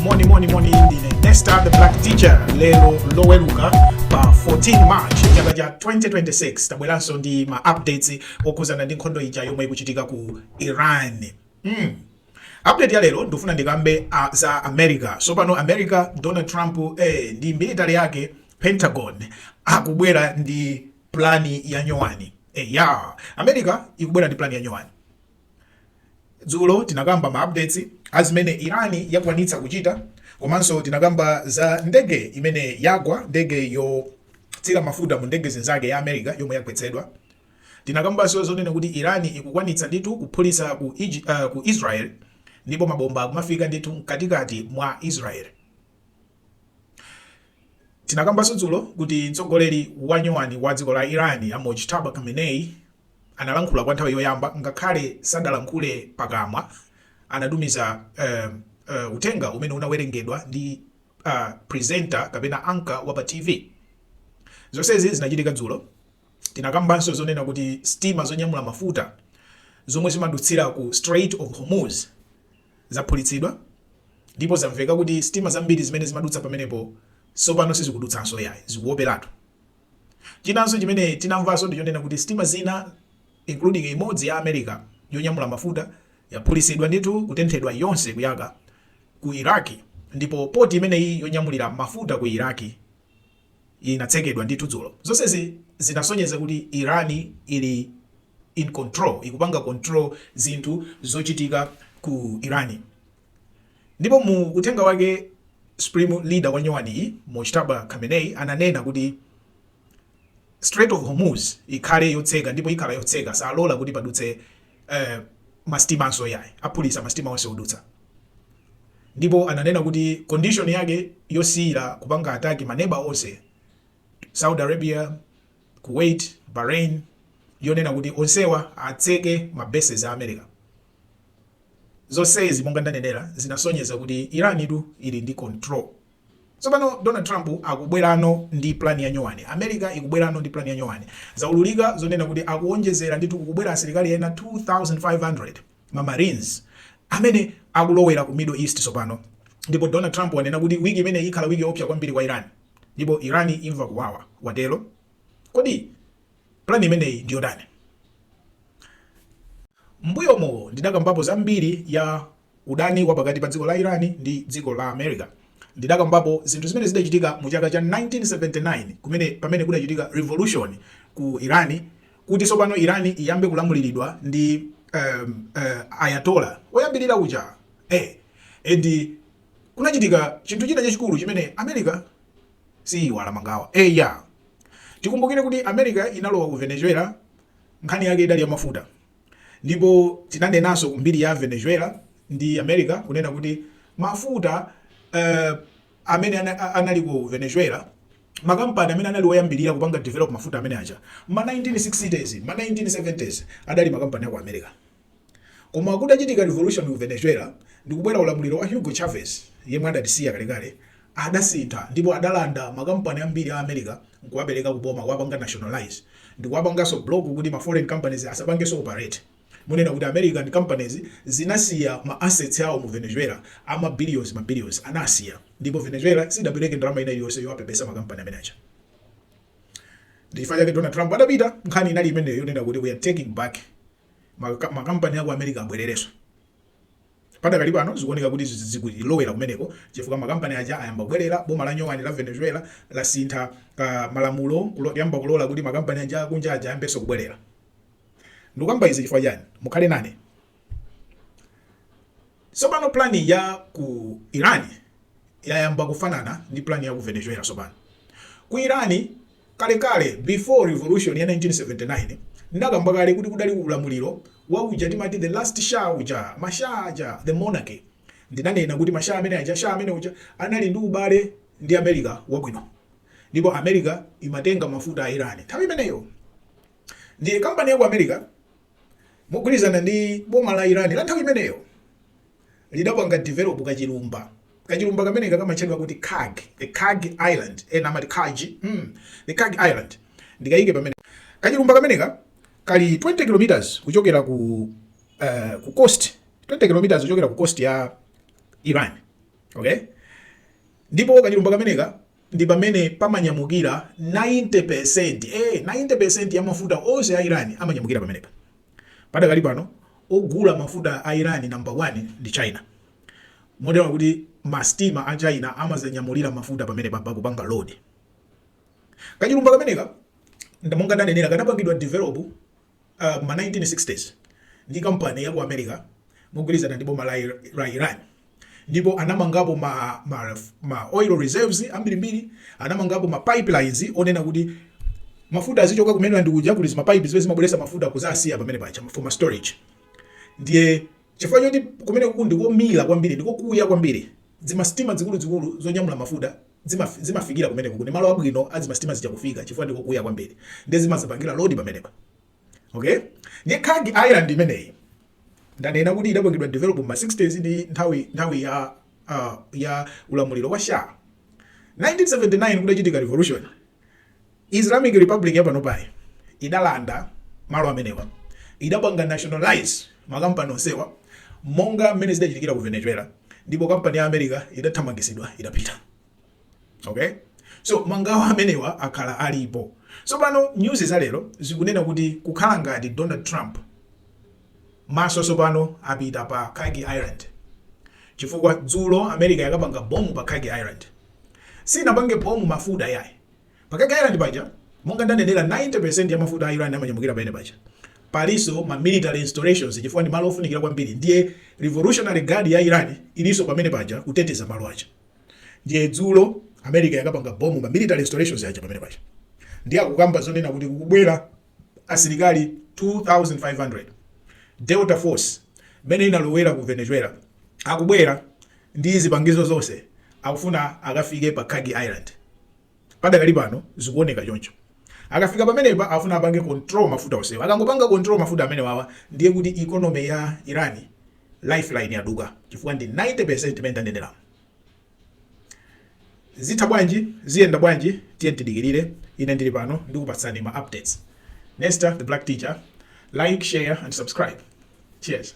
moni moni moni ndine nesta the black teacher lero loweruka pa 14 march chaka cha 2026 tabweranso ndi ma updates okhudzana ndi nkhondo ija yomwe ikuchitika ku iran Hmm. Update ya lero ndifuna ndikambe za America. Sopano America Donald Trump eh, ndi military yake Pentagon akubwera ndi plani ya nyowani. Eh, ya America ikubwera ndi plani ya nyowani. Dzulo tinakamba ma updates azimene Irani yakwanitsa kuchita komanso tinakamba za ndege imene yagwa ndege yotsira mafuta mu ndege zinzake ya America yomwe yagwetsedwa. Tinakambaso zonena kuti Iran ikukwanitsa ndithu kuphulitsa ku Israel ndipo mabomba akumafika ndithu mkatikati mwa Israel. Tinakambaso dzulo kuti mtsogoleri wanyowani wa dziko la Iran a Mojtaba Khamenei analankhula kwa nthawi yoyamba ngakhale sadalankhule pakamwa anatumiza uthenga umene unawerengedwa ndi presenter kapena anchor wa pa TV. Zonsezi zinachitika dzulo Tinakambanso zonena kuti sitima zonyamula mafuta zomwe zimadutsira ku Strait of Hormuz zaphulitsidwa ndipo zamveka kuti sitima zambiri zimene zimadutsa pamenepo sopano sizikudutsanso yayi, zikuoperatu. Chinanso chimene tinamvaso ndichonena kuti sitima zina including imodzi ya America yonyamula mafuta yaphulitsidwa ndithu kutenthedwa yonse kuyaka ku Iraqi ndipo port imeneyi yonyamulira mafuta ku Iraqi, inatsekedwa ndithu dzulo. Zonsezi zinasonyeza kuti Iran ili in control, ikupanga control zinthu zochitika ku Iran. Ndipo mu uthenga wake supreme leader wa nyowaniyi Mojtaba Khamenei ananena kuti Strait of Hormuz ikhale yotseka ndipo ikhala yotseka, salola kuti padutse eh, masitimanso yayi, aphulisa masitima onse odutsa. ndipo ananena kuti condition yake yosiyira kupanga attack ma neba onse Saudi Arabia, Kuwait, Bahrain yonena kuti onsewa atseke ma bases a America. Zonsezi monga ndanenera zinasonyeza kuti Irantu ili ndi control. Tsopano Donald Trump akubwerano ndi plan ya nyowani, America ikubwerano ndi plan ya nyowani. Zaululika zonena kuti akuwonjezera ndithu kukubwera asilikali ena 2500. ma Marines amene akulowera ku Middle East tsopano, ndipo Donald Trump wanena kuti wiki imeneyi ikhala wiki yoopsa kwambiri kwa Iran, ndipo Iran imva kuwawa, watero. Kodi plan imeneyi ndi yotani? M'mbuyomo ndidakambapo za mbiri ya udani wa pakati pa dziko la Iran ndi dziko la America. Ndidakambapo zinthu zimene zidachitika mu chaka cha 1979 pamene kudachitika revolution ku Iran kuti tsopano Iran iyambe kulamuliridwa ndi um, uh, Ayatollah woyambirira uja eh, and kunachitika chinthu china chachikulu chimene America siiwala mangawa eh, yeah. Tikumbukire kuti America inalowa ku Venezuela nkhani yake idali ya mafuta ndipo tinanenanso mbiri ya Venezuela ndi America kunena kuti mafuta uh, amene anali ku Venezuela, makampani amene anali oyambirira kupanga develop mafuta amene aja, mma 1960s, mma 1970s, adali makampani a ku America. Koma kutachitika revolution ku Venezuela, ndikubwera ulamuliro wa Hugo Chavez, yemwe adatisiya kalekale, adasintha ndipo adalanda makampani ambiri a America n'kuwapereka ku boma, kuwapanga nationalize, ndikuwapanganso block kuti ma foreign companies asapangenso operate. Monena kuti American companies zinasiya ma assets awo mu Venezuela ama billions ma billions anasiya ndipo Venezuela sidapereke ndalama ina iliyose yowapepesa ma company amene aja ndi chifukwa chake Donald Trump adapita nkhani inali imeneyo yonena kuti we are taking back ma company aku America abwererenso padakali pano zikuoneka kuti zikulowera kumeneko chifukwa makampani aja ayamba kubwerera boma la nyowani la Venezuela lasinthako malamulo kuyamba kulola kuti makampani aja akunja aja ayambenso kubwerera ndikukamba izi chifukwa chani mukhale nane tsopano plani ya ku iran yayamba kufanana ndi plani ya ku venezuela tsopano ku iran kalekale before revolution ya 1979 ndakamba kale kuti kudali ulamuliro wa uja timati the last shah uja mashah aja the monarchy ndinanena kuti mashah amene aja shah amene uja anali ndi ubale ndi america wabwino ndipo america imatenga mafuta a iran nthawi imeneyo Ndiye kampani ya ku America mogwirizana ndi boma la Iran la nthawi imeneyo lidapanga develop kachilumba kachilumba kameneka kamatchedwa kuti Kharg, the Kharg Island ena eh, amati Kaj mm, the Kharg Island ndikaike pamene kachilumba kameneka kali 20 kilometers kuchokera ku uh, ku coast 20 kilometers kuchokera ku coast ya Iran okay ndipo kachilumba kameneka ndi pamene pamanyamukira 90%, ee, 90% ya mafuta onse a Iran amanyamukira pamenepa. Padakali pano, ogula mafuta a Iran number 1 ndi China. Motero kuti masitima a China amadzanyamulira mafuta pamenepa, kupanga load. Kachilumba kameneka, nda- monga ndanenera, kanapangidwa develop M'ma 1960s, ndi kampani ya ku America mogwirizana ndi boma la Iran, ndipo anamangapo ma oil reserves ambirimbiri, anamangapo ma pipelines zonena kuti mafuta azichoka ku mainland kuja, kuli zima pipe zimene zimabweretsa mafuta kuzasiya pamene paja for ma storage. Ndiye chifukwa choti kumeneku ndi komira kwambiri ndi kokuya kwambiri, zima sitima zikuluzikulu zonyamula mafuta zimafikira kumeneko kuli malo abwino a zima sitima zija kufika chifukwa ndi kokuya kwambiri ndiye zimadzapangira load pamenepa okay ndiye Kharg Island imeneyi ndanena kuti idapangidwa develop ma 60s ndi nthawi nthawi ya uh, ya ulamuliro wa Shah 1979 kudachitika revolution Islamic Republic ya panopayi idalanda malo amenewa, idapanga nationalize makampani onsewa monga mmene zidachitikira ku Venezuela ndipo kampani ya America idathamangitsidwa idapita. Okay? So mangawo amenewa akhala alipo. Tsopano nyuzi za lero zikunena kuti kukhala ngati Donald Trump maso tsopano apita pa Kharg Island chifukwa dzulo America yakapanga bomb pa Kharg Island. Sinapange bomb mafuta yayi. Pa Kharg Island paja, monga ndanenera 90% ya mafuta a Iran amanyamukira pamene paja. Palinso ma military installations chifukwa ndi malo ofunikira kwambiri ndiye Revolutionary Guard ya Iran ilinso pamene paja kuteteza malo aja. Ndiye dzulo America yakapanga bomb ma military installations aja pamene paja. Ndiye akukamba zonena kuti kukubwera asilikali 2500 Delta Force imene inalowera ku Venezuela akubwera ndi zipangizo zonse akufuna akafike pa Kharg Island. Padakali pano zikuoneka choncho. Akafika pamenepa afuna apange control mafuta onsewa. Akangopanga control mafuta amenewawa ndiye kuti economy ya Iran lifeline yaduka chifukwa ndi 90% imene ndaneneramu. Zitha bwanji? Ziyenda bwanji? Tiyeni tidikirire. Ine ndili pano ndikupatsani ma updates. Nesta the Black Teacher. Like, share and subscribe. Cheers.